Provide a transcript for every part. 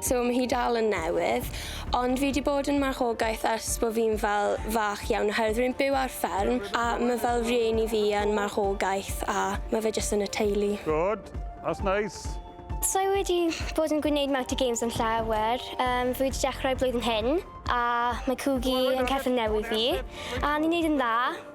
So mae hi dal yn newydd, ond fi wedi bod yn marchogaeth ers bod fi'n fel fach iawn oherwydd rwy'n byw ar fferm a mae fel rhieni fi yn marchogaeth a mae fe jyst yn y teulu. Good, that's nice. So i wedi bod yn gwneud Mouty Games yn llawer. Um, fi wedi dechrau blwyddyn hyn, a mae Cwgi yn cerdded newydd fi, a ni'n neud yn dda.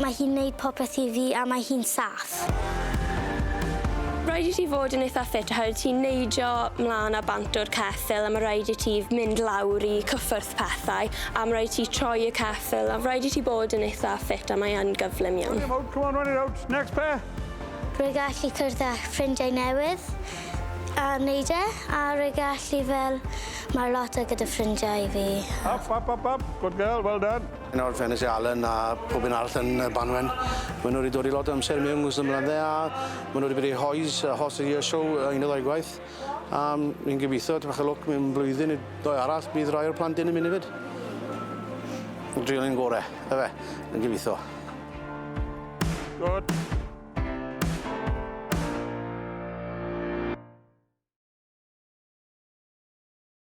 Mae hi'n neud popeth i fi a mae hi'n saff. Rhaid i ti fod yn eitha ffit oherwydd wyt ti'n neidio 'mlan a bant o'r ceffyl a ma' raid i ti mynd lawr i cyffwrdd pethau a ma' raid ti troi y ceffyl a rhaid i ti bod yn eitha ffit a mae yn gyflym iawn. Run it out, come on, run it out, next pair! Rwy'n gallu cwrdd â ffrindiau newydd a wneud e a rwy'n gallu fel marlota gyda ffrindiau fi. Up, up, up, up, good girl, well done. Yn ôl Fenus a Alan a pob un arall yn y Banwen, maen nhw wedi dod i lot o amser mewn ngwrs ymladdau a maen nhw wedi bod i Hoys, y Horse of the Year Show, un neu ddau gwaith. A fi'n gobeithio, tipyn bach o lwc, mewn blwyddyn neu ddwy arall, bydd rai o'r plant hyn yn mynd hefyd. Drial yn gore, efe, yn gobeithio. Good.